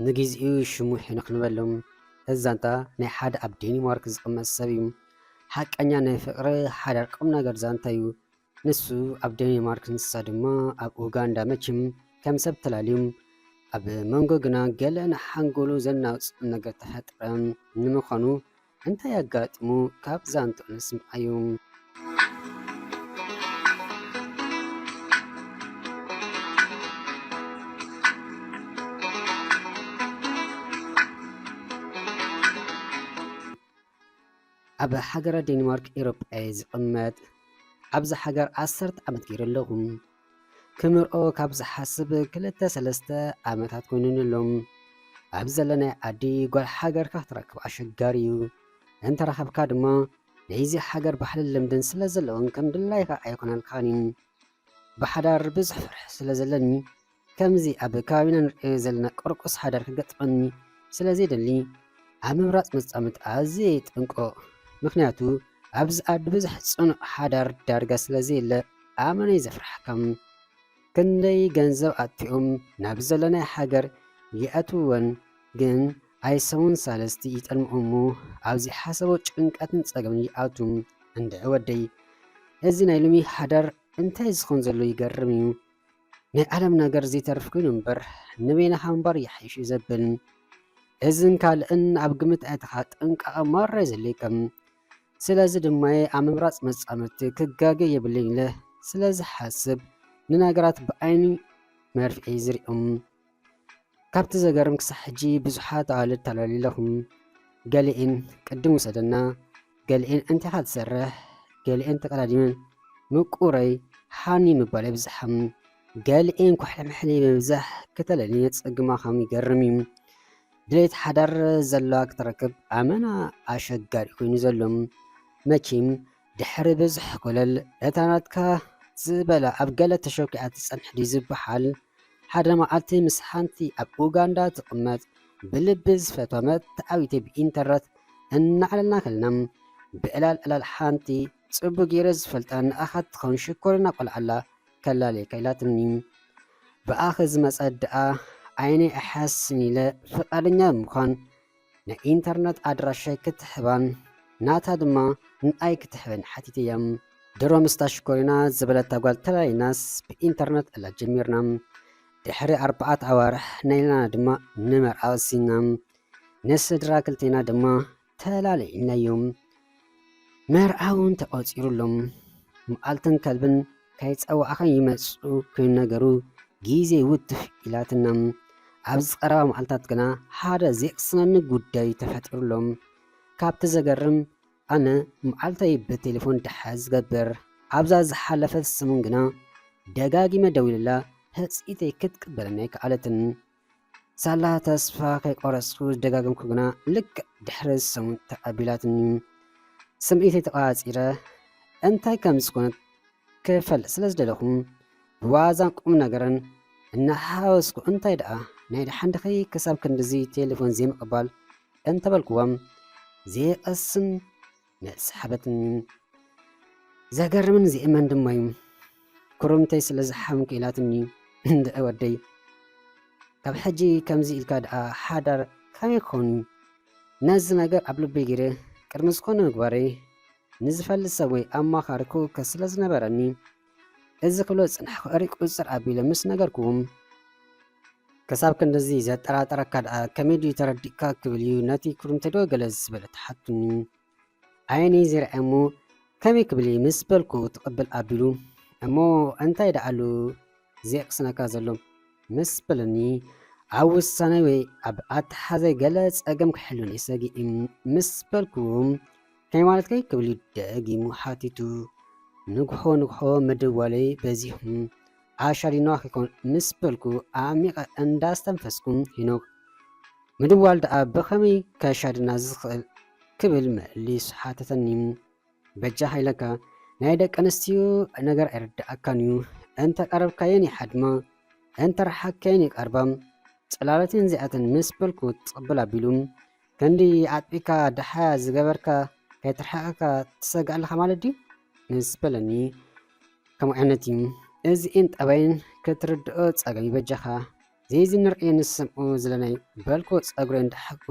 ንጊዚኡ ሽሙ ሕንቕ ንበሎ። እዚ ዛንታ ናይ ሓደ ኣብ ዴኒማርክ ዝቕመጥ ሰብ እዩ። ሓቀኛ ናይ ፍቕሪ ሓዳር ቁምነገር ዛንታ እዩ። ንሱ ኣብ ደኒማርክ ንሳ ድማ ኣብ ኡጋንዳ መችም ከም ሰብ ተላልዩም ኣብ መንጎ ግና ገለ ንሓንጎሉ ዘናውጽ ነገር ተፈጥረ ንምዃኑ እንታይ ኣጋጢሙ ካብ ዛንትኡ ንስምዓዩ። ኣብ ሃገረ ዴንማርክ ኤሮጳ እየ ዝቅመጥ ኣብዛ ሃገር ዓሰርተ ዓመት ገይረ ኣለኹ ክምርዖ ካብ ዝሓስብ ክልተ ሰለስተ ዓመታት ኮይኑኒ ኣሎ ኣብ ዘለናይ ዓዲ ጓል ሃገርካ ክትረክብ ኣሸጋሪ እዩ እንተረኸብካ ድማ ናይዚ ሃገር ባህልን ልምድን ስለ ዘለዎን ከም ድላይካ ኣይኮነልካን እዩ ብሓዳር ብዙሕ ፍርሒ ስለ ዘለኒ ከምዚ ኣብ ከባቢና ንርእዮ ዘለና ቁርቁስ ሓዳር ክገጥመኒ ስለ ዘይደሊ ኣብ ምምራጽ መጻምድቲ ኣዝየ ይጥንቆቕ። ምኽንያቱ ኣብዚ ዓዲ ብዙሕ ጽኑዕ ሓዳር ዳርጋ ስለ ዘየለ ኣመነይ ዘፍርሓካ። ክንደይ ገንዘብ ኣጥፊኦም ናብ ዘለናዮ ሃገር ይኣትውወን ግን ኣይ ሰሙን ሳልስቲ ይጠልምኦ እሞ ኣብ ዘይሓሰቦ ጭንቀትን ጸገምን ይኣቱ። እንድዒ ወደይ እዚ ናይ ሎሚ ሓዳር እንታይ ዝኸውን ዘሎ ይገርም'ዩ። ናይ ዓለም ነገር ዘይተርፍ ኮይኑ እምበር ንበይንኻ ምንባር ይሓይሽ እዩ ዘብል። እዝን ካልእን ኣብ ግምት ኣእትኻ ጥንቃቐ ማራ የዘለየካ። ስለዚ ድማ ኣብ ምምራፅ መፃምድቲ ክጋገ የብለይን ኢለ ስለዝሓስብ ንነገራት ብዓይኒ መርፍኤ ዝሪኦም። ካብቲ ዘገርም ክሳዕ ሕጂ ብዙሓት ኣዋልድ ተላሊለኹም ገሊኤን ቅድም ውሰደና ገሊኤን እንቲኻ ትሰርሕ ገሊኤን ተቀዳዲመን ምቁረይ ሓኒ ምባል የብዝሓም ገሊኤን ኩሕልምሕሊ ምብዛሕ ክተለልየ ጸግማኻም ይገርም እዩ ድሌት ሓዳር ዘለዋ ክትረክብ ኣመና ኣሸጋሪ ኮይኑ ዘሎ መኪም ድሕሪ ብዙሕ ኮለል እታ ናትካ ዝበላ ኣብ ገለ ተሸኪዓ ትጸንሕ ድዩ ዝበሃል ሓደ መዓልቲ ምስ ሓንቲ ኣብ ኡጋንዳ ትቕመጥ ብልቢ ዝፈትዋ መርትዓዊተይ ብኢንተርነት እናዕለልና ከለና፣ ብዕላል ዕላል ሓንቲ ጽቡቕ ገይረ ዝፈልጣ ንኣኻ ትኸውን ሽኮሪና ቆልዓ'ላ ከላልየካ ኢላትኒ። ብኣኺ ዝመጸት ደኣ ዓይነይ ኣይሓስስን ኢለ ፍቓደኛ ብምዃን፣ ናይ ኢንተርነት ኣድራሻይ ክትሕባን ናታ ድማ ንኣይ ክትሕበኒ ሓቲተያ። ድሮ ምስታ ሽኮሪና ዝበለታ ጓል ተላሊናስ ብኢንተርነት እላ ጀሚርና። ድሕሪ ኣርባዓት ኣዋርሕ ናይላና ድማ ንመርዓ ወሲንና። ንስድራ ክልቴና ድማ ተላሊኢናዮም። መርዓውን ተቖጺሩሎም መዓልትን ከልብን ከይጸዋዕኻ ይመጽኡ ክይነገሩ ግዜ ውትፍ ኢላትና። ኣብዚ ቀረባ መዓልታት ግና ሓደ ዜቕስነኒ ጉዳይ ተፈጢሩሎም። ካብቲ ዘገርም ኣነ መዓልተይ ብቴሌፎን ደሓ ዝገብር ኣብዛ ዝሓለፈት ሰሙን ግና ደጋጊመ ደዊለላ ህጽኢተይ ክትቅበለኒ ኣይከኣለትን። ሳላ ተስፋ ከይቆረጽኩ ዝደጋገምኩ ግና ልክዕ ድሕሪ ሰሙን ተቐቢላትኒ። ስምዒተይ ተቛጺረ እንታይ ከም ዝኾነት ክፈልጥ ስለ ዝደለኹ ብዋዛን ቁምነገርን እናሓወስኩ እንታይ ደኣ ናይ ደሓን ድኺ ክሳብ ክንድዚ ቴሌፎን ዘይምቕባል እንተበልኩዎም ዘይቐስን መሳሕበትን ዘገርምን ዜእመን ድማ እዩ ኩርምተይ ስለ ዝሓምኩ ኢላትኒ እንድዒ ወደይ ካብ ሕጂ ከምዚ ኢልካ ደኣ ሓዳር ከመይ ክኸውን እዩ ነዚ ነገር ኣብ ልበይ ገይረ ቅድሚ ዝኾነ ምግባረይ ንዝፈልጥ ሰብ ወይ ኣማኻሪ ክውከስ ስለ ዝነበረኒ እዚ ክብሎ ዝጸናሕኩ እሪ ቁጽጽር ኣቢለ ምስ ነገርኩዎም፣ ክሳብ ክንድዚ ዘጠራጥረካ ደኣ ከመይ ድዩ ተረዲእካ ክብል እዩ ነቲ ኩርምቲዶ ገለ ዝበለ ተሓቱኒ። ዓይነይ ዘይርኣየ እሞ ከመይ ክብል እየ ምስ በልኩ ትቕብል ኣቢሉ እሞ እንታይ ደኣ ኣሉ ዘየቕስነካ ዘሎ ምስ በለኒ ኣብ ውሳነይ ወይ ኣብ ኣተሓሕዛይ ገለ ጸገም ክሕሉኒ ሰጊእ ምስ በልኩዎም ከመይ ማለትከይ ክብል ደጊሙ ሓቲቱ። ንግሆ ንግሆ ምድዋለይ በዚሑ ኣሻሊኖ ኣይኮን ምስ በልኩ ኣዕሚቐ እንዳስተንፈስኩ ሄኖክ ምድዋል ደኣ ብኸመይ ከሻድና ዝኽእል ክብል መሊሱ ሓተተኒ። በጃኻ ኢለካ ናይ ደቂ ኣንስትዮ ነገር ኣይርድኣካን እዩ እንተ ቀረብካየን ይሓድማ እንተ ረሓቅካየን ይቀርባ ጽላለተን እዚኣተን ምስ በልኩ ትቕብል ኣቢሉ ክንዲ ኣጥቢካ ድሓያ ዝገበርካ ከይትርሕቀካ ትሰግእ ኣለኻ ማለት ድዩ ምስ በለኒ ከምኡ ዓይነት እዩ እዚእን ጠባይን ክትርድኦ ጸገም ይበጃኻ ዘይዚ ንርእዮ ንሰምዑ ዝለናይ በልኩ ጸጉረይ እንዳሓኩ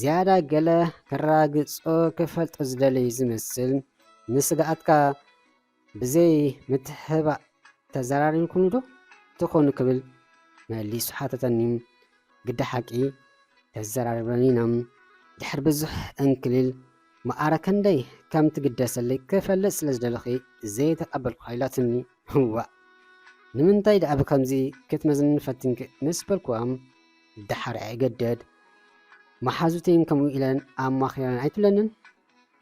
ዝያዳ ገለ ከራግጾ ክፈልጦ ዝደለይ ዝመስል ንስግኣትካ ብዘይ ምትሕባእ ተዘራሪብኩምዶ ትኾኑ ክብል መሊሱ ሓተተኒ። ግደ ሓቂ ተዘራሪብናን ኢና፣ ድሕሪ ብዙሕ ዕንክሊል መኣረ ከንደይ ከም ትግደሰለይ ክፈልጥ ስለ ዝደለኹ ዘይተቐበልኩኻ ኢላትኒ። እዋእ ንምንታይ ደኣ ብከምዚ ክትመዝኒ ፈቲንኪ ምስ በልኩዋ፣ ደሓር ኣይእገደድ መሓዙተይን ከምኡ ኢለን ኣማኺረን ኣይትብለንን?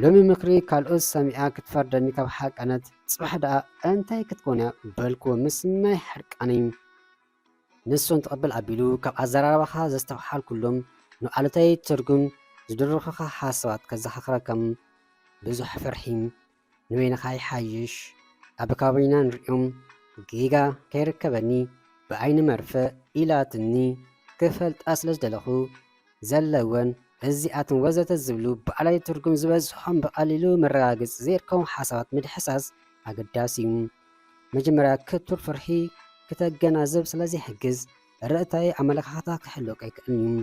ሎሚ ምክሪ ካልኦት ሰሚዓ ክትፈርደኒ ካብ ሓቀነት ጽባሕ ደኣ እንታይ ክትኮን'ያ በልክዎ ምስ ማይ ሕርቃነይ ንሶም ትቕብል ኣቢሉ ካብ ኣዘራርባኻ ዘስተውሓልኩሎም ንኣሉታዊ ትርጉም ዝድርኹኻ ሓሳባት ከዘኻኽረካ ብዙሕ ፍርሒ ንበይንኻ ይሓይሽ ኣብ ከባቢና ንሪኦም ጌጋ ከይርከበኒ ብዓይኒ መርፍእ ኢላትኒ ክፈልጣ ስለ ዝደለኹ ዘለወን እዚኣተን ወዘተ ዝብሉ ባዕላዊ ትርጉም ዝበዝሖም ብቐሊሉ መረጋገጺ ዘይርከቦም ሓሳባት ምድሕሳስ ኣገዳሲ እዩ። መጀመርያ ክቱር ፍርሒ ክተገናዝብ ስለ ዘይሕግዝ ርእታዊ ኣመለኻኽታ ክህልወካ ኣይክእልን እዩ።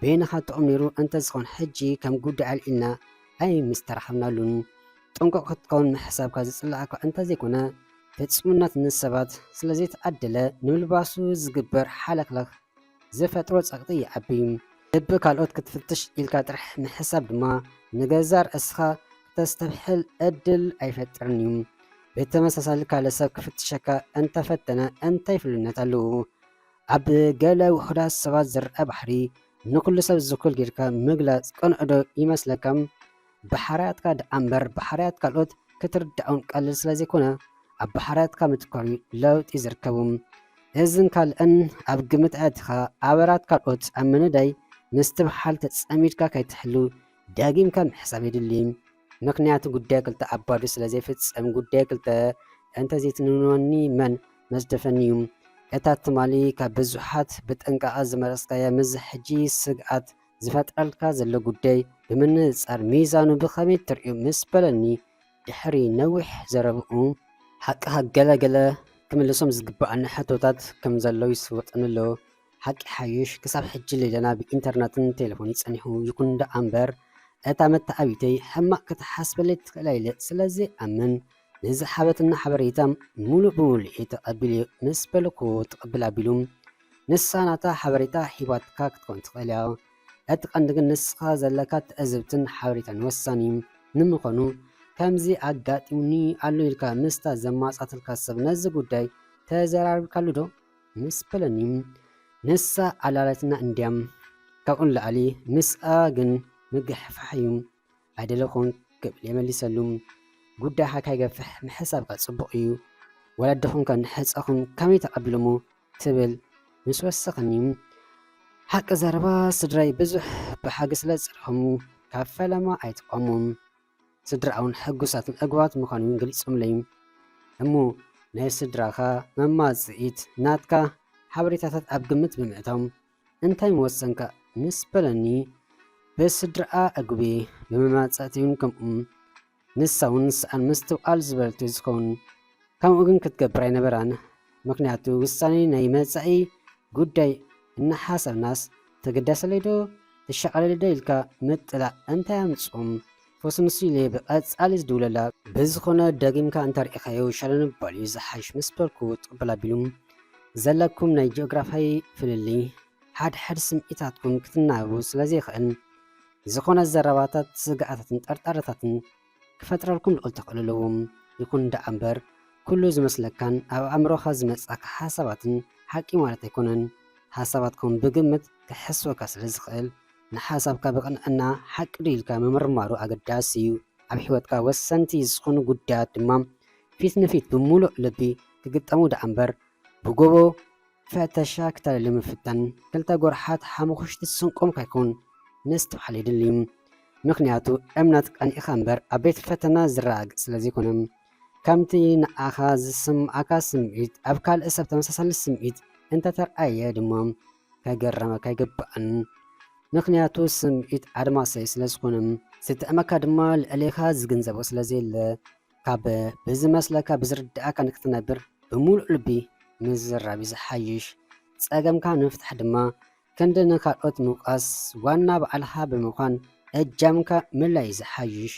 በይንኻ ጥዑም ነይሩ እንተዝኾን ሕጂ ከም ጉዳይ ኣልዒልና ኣይምስተራኸብናሉን። ጥንቁቕ ክትከውን ምሕሳብካ ዝጽልኣካ እንተዘይኮነ ፍጹምነት ንሰባት ስለ ዘይተዓደለ ንምልባሱ ዝግበር ሓለኽለኽ ዝፈጥሮ ጸቕጢ ይዓቢ። ልቢ ካልኦት ክትፍትሽ ኢልካ ጥራሕ ምሕሳብ ድማ ንገዛእ ርእስኻ ክተስተብሕል ዕድል ኣይፈጥርን እዩ። ብተመሳሳሊ ካልእ ሰብ ክፍትሸካ እንተ ፈተነ እንታይ ፍሉይነት ኣለዎ? ኣብ ገለ ውሑዳት ሰባት ዝርኣ ባህሪ ንኹሉ ሰብ ዝኩል ጌርካ ምግላጽ ቅኑዕዶ ይመስለካ? ብሓርያትካ ደኣ እምበር ብሓርያት ካልኦት ክትርዳኦም ቀሊል ስለ ዘይኮነ ኣብ ብሓርያትካ ምትኳር እዩ ለውጢ ዝርከቡ። እዝን ካልእን ኣብ ግምት ኣእትኻ ኣበራት ካልኦት ኣብ ምንዳይ ምስትብሓል ተጸሚድካ ከይትሕሉ ደጊምካ ምሕሳብ የድሊ። ምኽንያቱ ጉዳይ ክልተ ኣብ ባዶ ስለ ዘይፍጸም ጉዳይ ክልተ እንተ ዘይትንንወኒ መን መዝደፈኒ እዩ። እታ ትማሊ ካብ ብዙሓት ብጥንቃቐ ዝመረጽካያ ምስዚ ሕጂ ስግኣት ዝፈጥረልካ ዘሎ ጉዳይ ብምንጽጻር ሚዛኑ ብኸመይ ትርእዮ ምስ በለኒ ድሕሪ ነዊሕ ዘረብኡ፣ ሓቅኻ ገለ ገለ ክምልሶም ዝግበኣኒ ሕቶታት ከም ዘሎ ይስወጠኒ ኣሎ፣ ሓቂ ሓይሽ ክሳብ ሕጂ ሌላና ብኢንተርነትን ቴለፎንን ጸኒሑ፣ ይኹን ደኣምበር እታ መተዓብይተይ ሕማቕ ክትሓስበለይ ትኽእል ኣይለ ስለዘይኣምን፣ ንዝሃበትና ሓበሬታ ሙሉእ ብሙሉእ ተቀቢለ እየ ምስ በልኩ ትቅብል ኣቢሉ ንሳ ናታ ሓበሬታ ሂባትካ ክትከውን ትክእል እያ እቲ ቀንዲ ግን ንስካ ዘለካ ትዕዝብትን ሓበሬታን ወሳኒ እዩ ንምኮኑ ከምዚ ኣጋጢሙኒ ኣሎ ኢልካ ምስታ ዘማጻትልካ ሰብ ነዚ ጉዳይ ተዘራርብካሉ ዶ ምስ በለኒ ንሳ ኣላላትና እንድያ ካብኡ ንላዕሊ ምስኣ ግን ምግሕፋሕ እዩ ኣይደለ ኮንክ ክብል የመሊሰሉ ጉዳይካ ካይገፍሕ ምሕሳብካ ጽቡቅ እዩ ወለድኹም ከ ንሕጸኹም ከመይ ተቀቢሎሞ ትብል ምስ ወሰኸኒ ሓቂ ዘረባ ስድራይ ብዙሕ ብሓጊ ስለ ዝጸልኹም ካብ ፈለማ ኣይትቆሙ ስድራኣውን ሕጉሳትን ዕግባት ምዃኑ ውን ገሊጾምለይ እሞ ናይ ስድራኻ መማጽኢት ናትካ ሓበሬታታት ኣብ ግምት ብምእታው እንታይ ምወሰንካ ምስ በለኒ፣ ብስድራኣ ዕጉበ፣ ብመማጽእቲ'ውን ከምኡ። ንሳ'ውን ሰኣን ምስትውዓል ዝበለት'ዩ ዝኸውን። ከምኡ ግን ክትገብር ኣይነበራን። ምኽንያቱ ውሳኔ ናይ መጻኢ ጉዳይ እናሓሰብናስ ተገዳሰለይ'ዶ ተሻቐለለይ'ዶ ኢልካ ምጥላዕ እንታይ ኣምጽኦ? ፎሲ ንሱ ኢለ ብቀጻሊ ዝድውለላ ብዝኮነ ደጊምካ እንተሪኢካዮ ሻሎ ንባል እዩ ዝሓሽ ምስ በልኩ ትቅበል ኣቢሉ ዘለኩም ናይ ጂኦግራፋይ ፍልልይ ሓድሕድ ስምዒታትኩም ክትናበቡ ስለ ዘይክእል ዝኮነ ዘረባታት ስግኣታትን ጠርጣረታትን ክፈጥረልኩም ልዑል ተክእሎ ኣለዎ ይኩን ደኣ እምበር ኩሉ ዝመስለካን ኣብ ኣእምሮካ ዝመጽኣካ ሓሳባትን ሓቂ ማለት ኣይኮነን ሓሳባትኩም ብግምት ክሕስወካ ስለ ዝክእል ንሓሳብካ ብቕንዕና ሓቂ ዶ ኢልካ ምምርማሩ ኣገዳሲ እዩ። ኣብ ሕይወትካ ወሰንቲ ዝኹኑ ጉዳያት ድማ ፊት ንፊት ብምሉእ ልቢ ክግጠሙ ደኣ እምበር ብጎቦ ፈተሻ ክተልሊ ምፍታን ክልተ ጎርሓት ሓሙኹሽቲ ስንቆም ካይኮን ምስትውዓል የድሊ። ምኽንያቱ እምነት ቀኒእኻ እምበር ኣብ ቤት ፈተና ዝረጋገጽ ስለ ዘይኮነ። ከምቲ ንኣኻ ዝስምዓካ ስምዒት ኣብ ካልእ ሰብ ተመሳሳሊ ስምዒት እንተ ተርኣየ ድማ፣ ከገረመካ ኣይግባእን። ምኽንያቱ ስምዒት ኣድማሳይ ስለ ዝኾነ፣ ዝጥዕመካ ድማ ልዕሌኻ ዝግንዘቦ ስለ ዘየለ፣ ካብ ብዝመስለካ ብዝርድኣካ ንክትነብር ብምሉእ ልቢ ምዝራብ እዩ ዝሓይሽ። ጸገምካ ንምፍታሕ ድማ ክንዲ ንካልኦት ምውቃስ ዋና ባዕልኻ ብምዃን እጃምካ ምልላይ እዩ ዝሓይሽ።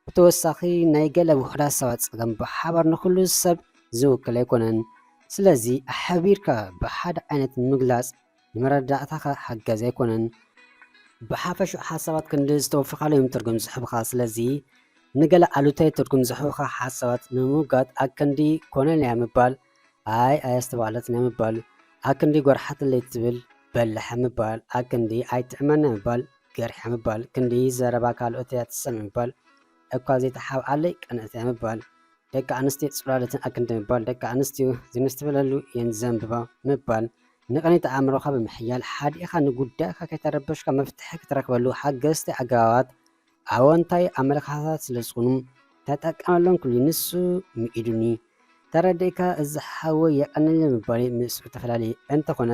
ብተወሳኺ ናይ ገለ ውሑዳት ሰባት ጸገም ብሓባር ንኹሉ ሰብ ዝውክል ኣይኮነን። ስለዚ ኣሕቢርካ ብሓደ ዓይነት ምግላጽ ንመረዳእታኻ ሓጋዚ ኣይኮነን። ብሓፈሽኡ ሓሳባት ክንዲ ዝተወፈኻሉ እዮም ትርጉም ዝህቡኻ። ስለዚ ንገለ ኣሉታዊ ትርጉም ዝህቡኻ ሓሳባት ንምውጋድ ኣክንዲ ኮነልያ ምባል ኣይ ኣየስተባህለትንያ ምባል ኣክንዲ ጎርሓትለይ ትብል በላሕ ምባል ኣክንዲ ኣይትዕመና ምባል ገርሕያ ምባል ክንዲ ዘረባ ካልኦት እያ ትሰምዕ ምባል እኳ ዘይተሓብኣለይ ቀንእት እያ ምባል ደቂ ኣንስትዮ ጽላሎትን ኣክንዲ ምባል ደቂ ኣንስትዮ ዝምስትብለሉ እየን ዘንብባ ምባል ንቕኒት ኣእምሮኻ ብምሕያል ሓዲእኻ ንጉዳይካ ከይተረበሽካ መፍትሒ ክትረክበሉ ሓገዝቲ ኣገባባት ኣወንታዊ ኣመለካኸታት ስለ ዝኾኑ ተጠቀመሎም ክሉ ንሱ ምኢዱኒ ተረዲእካ እዚ ሓወይ የቐንል ምባለይ ምስኡ ተፈላለየ እንተኾነ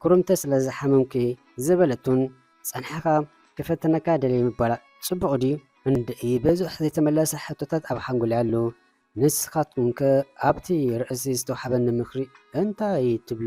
ኩርምቲ ስለ ዝሓመምኩ እየ ዝበለቱን ጸንሕኻ ክፈትነካ ደልየ ምባላ ጽቡቕ ድዩ? እንድዒ ብዙሕ ዘይተመለሰ ሕቶታት ኣብ ሓንጎለይ ኣሎ። ንስኻትኩም ከ ኣብቲ ርእሲ ዝተውሓበኒ ምኽሪ እንታይ ትብሉ?